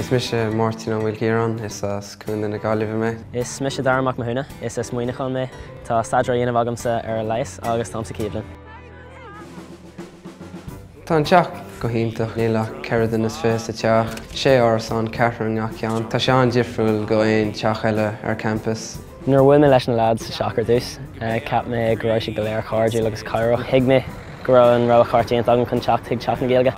Is mise Máirtín Ó Maoilchiaráin, is as Contae na Gaillimhe mé. Is mise Darragh Mac Mathúna, is as Muineachán mé. Tá staidéar á dhéanamh agamsa ar leigheas agus táim sa chéad bhliain. Tá an teach go hiontach. Níl ach ceithre duine is fiche sa teach. Sé árasán, ceathrar i ngach ceann. Tá sé an-difriúil go aon teach eile ar champas. Nuair a bhuail mé leis na leaids sa teach ar dtús, cheap mé go raibh siad go léir cairdiúil agus cabhrach. Thuig mé go raibh an rogha cheart déanta agam chun teacht chuig Teach na Gaeilge.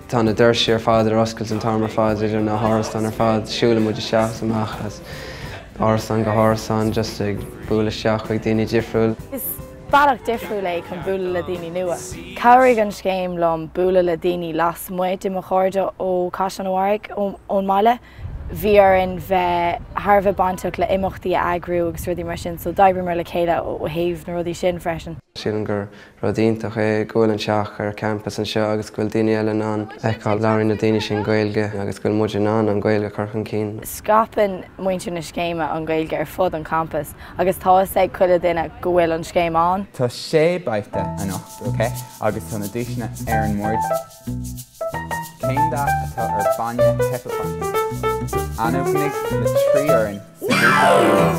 Tá na doirse ar fad ar oscailt an t-am ar fad idir na hárasáin ar fad. Siúlann muid isteach is amach as árasán go hárasán just ag bualadh isteach chuig daoine difriúil. Bealach difriúil é chun bualadh le daoine nua. Chabhraigh an scéim liom bualadh le daoine lasmuigh de mo chairde ó Chaisleán an Bharraigh, ón mbaile. Bhí orainn bheith thar a bheith bainteach le imeachtaí a eagrú agus rudaí mar sin so d'oibríomar le chéile ó thaobh na rudaí sin freisin. Sílim gur rud iontach é go bhfuil an teach ar campas anseo agus go bhfuil daoine eile in ann a fheiceáil. Labhraíonn na daoine sin Gaeilge agus go bhfuil muid in ann an Ghaeilge a chur chun cinn. Scaipeann muintir na scéime an Ghaeilge ar fud an campas Agus tá fhios ag chuile duine go bhfuil an scéim ann. Tá sé babhta anocht, ok? Agus tá na duaiseanna ar an mbord. Cén dath atá ar bainne hipeapótamaigh? Ainmnigh na trí fhoireann sa ghrúpa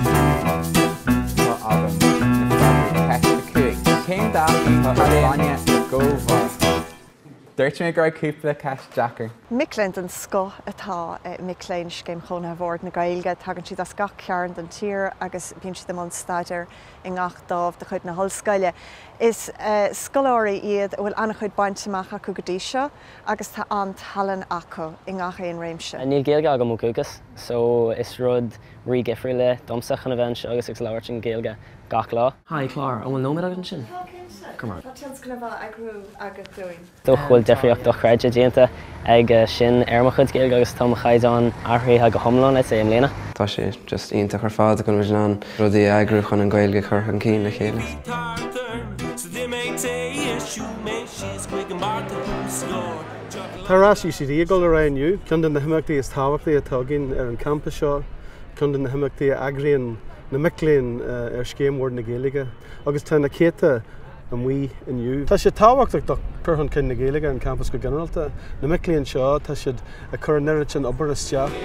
céanna. Tá agam na freagraí ceist a cúig. Cén dath atá ar bainne na gcomharthaí? Dúirt mé go raibh cúpla ceist deacair. Mic léinn den scoth atá i mic léinn Scéim Chónaithe Bhord na Gaeilge. Tagann siad as gach cearn den tír agus bíonn siad i mbun staidéir i ngach dámh de chuid na hollscoile. Is scoláirí iad a bhfuil an-chuid bainte amach acu go dtí seo agus tá an-tallann acu i ngach aon réimse. Níl Gaeilge agam ó dhúchas so is rud rídhifriúil é domsa chun a bheith anseo agus ag labhairt an Ghaeilge gach lá. Hi, Clár, an bhfuil nóiméad agat ansin? Tá cinnte. Go raibh maith agat. Tá tionscnamh á eagrú agat dúinn. Dócha go bhfuil difríocht dochreidte déanta ag sin ar mo chuid Gaeilge agus tá mo chaighdeán athraithe go hiomlán le tae i mbliana. Tá sé just iontach ar fad go bhfuil muid in ann rudaí a eagrú chun an Ghaeilge a chur chun cinn le chéile. Tá rás UCD ag dul ar aghaidh inniu, ceann de na himeachtaí is tábhachtaí atá againn ar an gcampas seo, ceann de na himeachtaí a eagraíonn na mic léinn ar Scéim Bhord na Gaeilge, agus tá na céadta amuigh inniu. Tá sé tábhachtach do chur chun cinn na Gaeilge ar an gcampas go ginearálta. Na mic léinn seo, tá siad ag cur an oiread sin obair isteach.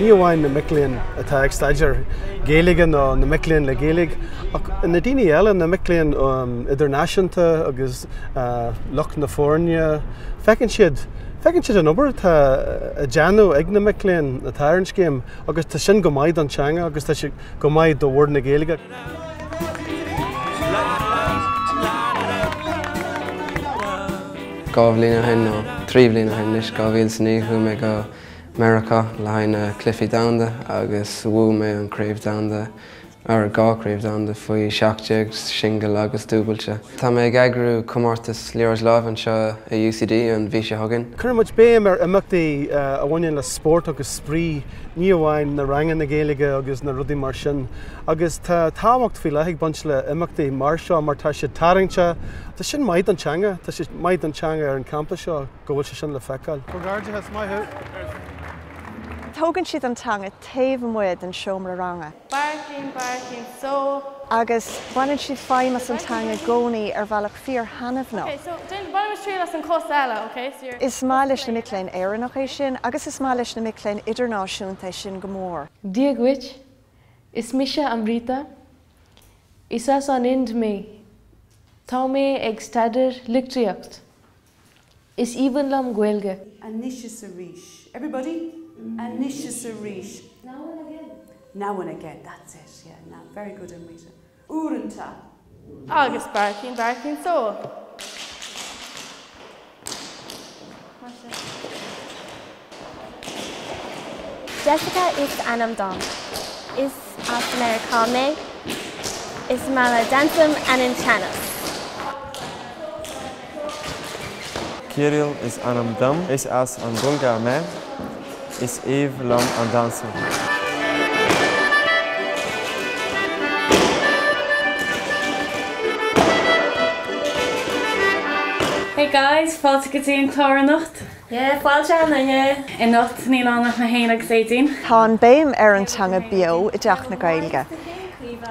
Ní amháin na mic léinn atá ag staidéar Gaeilge nó na mic léinn le Gaeilge, ach na daoine eile, na mic léinn idirnáisiúnta agus lucht na foirne, feiceann siad, feiceann siad an obair atá á déanamh ag na mic léinn atá ar an scéim agus tá sin go maith don teanga agus tá sé go maith do Bhord na Gaeilge. Dhá bhliain ó shin, nó trí bhliain ó shin anois, 2009, chuaigh mé go Meiriceá le haghaidh na Cluichí Domhanda agus bhuaigh mé an Craobh Domhanda, an dá Craobh Domhanda faoi seacht déag, singil agus dúbailte. Tá mé ag eagrú comórtas liathróid láimhe anseo i UCD an mhí seo chugainn. Cuireann muid béim ar imeachtaí a bhaineann le spórt agus spraoi, ní amháin na ranganna Gaeilge agus na rudaí mar sin. Agus tá tábhacht faoi leith ag baint le imeachtaí mar seo mar tá siad tarraingteach, tá sin maith don teanga, tá sé maith don teanga ar an gcampas seo go bhfuil sé sin le feiceáil. Comhghairdeachas, maith thú! Tógann siad an teanga taobh amuigh den seomra ranga. Barking, barking, so. Agus baineann siad feidhm as an teanga i gcónaí ar bhealach fíor thaitneamhnach. Okay, so déan, bainimis triail as an chos eile, okay, so you're. Is maith leis na mic léinn Éireannach é sin agus is maith leis na mic léinn idirnáisiúnta é sin go mór. Dia dhuit, Is mise Amrita. Is as an Ind mé. Tá mé ag staidear litriocht. Is aoibhinn liom Gaeilge. anois is arís! Everybody, anois is arís! Now and again. Now and again, that's it, yeah, now, very good Amrita. uaireanta. Agus beartaíonn beartaíonn só. Jessica is ainm dom. Is as Meiriceá mé. Is maith liom damhsa agus an tennis. Cyril is ainm dom. Is as an Bhulgáir mé. Is aoibhinn liom an damhsa. Hey guys! Fáilte go dtí an clár anocht. Fáilte an Duine, Imeacht Naíonánach na hAoine agus Aedín. Tá an béim ar an teanga beo i dTeach na Gaeilge.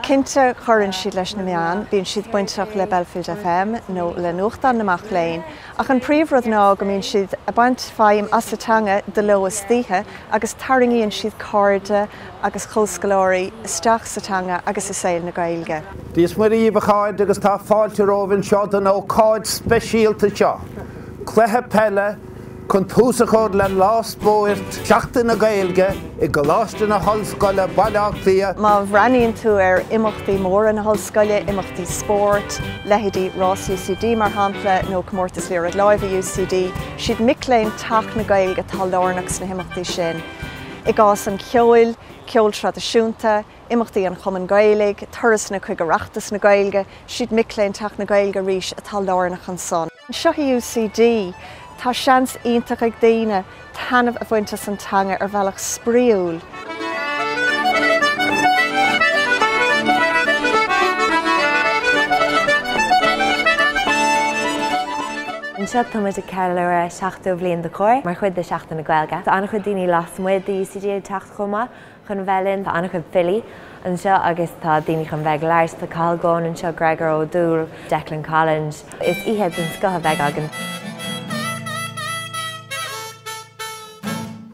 Cinnte cuireann siad leis na meáin, bíonn siad bainteach le Belfield FM nó le nuachtán na mac léinn, ach an príomh rud ná go mbíonn siad ag baint feidhm as an teanga de ló is d'oíche agus tarraingíonn siad cairde agus comhscoláirí isteach sa teanga agus i saol na Gaeilge. Dia 's Muire dhíbh a chairde agus tá fáilte romhaibh anseo chun na hócáide speisialta seo. Cluiche peile chun tús a chur le Lá Spóirt Sheachtain na Gaeilge i gColáiste na hOllscoile, Baile Átha Cliath. Má bhreathnaíonn tú ar imeachtaí móra na hOllscoile, imeachtaí spóirt, leithéidí Rás UCD mar shampla, nó Comórtas Liathróid Láimhe UCD, siad mic léinn Teach na Gaeilge atá lárnach sna himeachtaí sin. I gcás an cheoil, ceol traidisiúnta, imeachtaí an Chumainn Ghaelaigh, turasanna chuig Oireachtas na Gaeilge, siad mic léinn Teach na Gaeilge arís atá lárnach ansan. Seo í UCD. Tá seans iontach ag daoine taitneamh a bhaint as an teanga ar bhealach spraíúil. Anseo tá muid ag ceiliúradh 70 bliain de Comhar mar chuid de Seachtain na Gaeilge. Tá an-chuid daoine lasmuigh de UCD ag teacht chomh maith chun bheith linn. Tá an-chuid filí anseo agus tá daoine chun bheith ag labhairt. Tá Cathal Goan anseo, Gregor Ó Dúill, Declan Collinge. Is oíche den scoth a bheidh againn.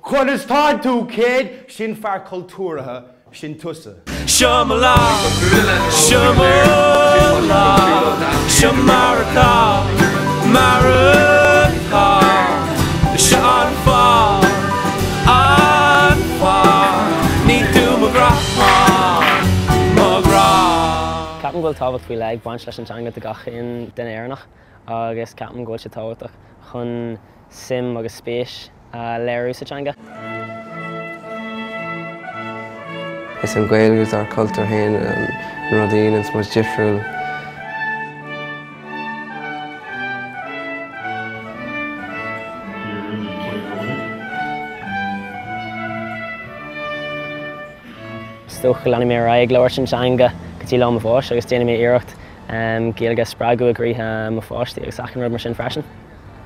Conas tá tú kid? Sin fear cultúrtha, sin tusa. Seo mo lá, seo mo lá, seo mar atá, mar atá, seo an fáth, an Ní tú mo ghrá, mo ghrá. Ceapaim go bhfuil tábhacht faoi leith ag baint leis an teanga do gach aon duine Éireannach agus ceapaim go bhfuil sé tábhachtach chun suim agus spéis a léiriú sa teanga. Is an Ghaeilge is ár cultúr fhéin, an rud a dhéananns muid difriúil. Is dócha go leanfaidh mé ar aghaidh ag labhairt an teanga go dtí lá mo bháis agus déanfaidh mé iarracht Gaeilge a spreagadh i gcroíthe mo pháistí agus achan rud mar sin freisin.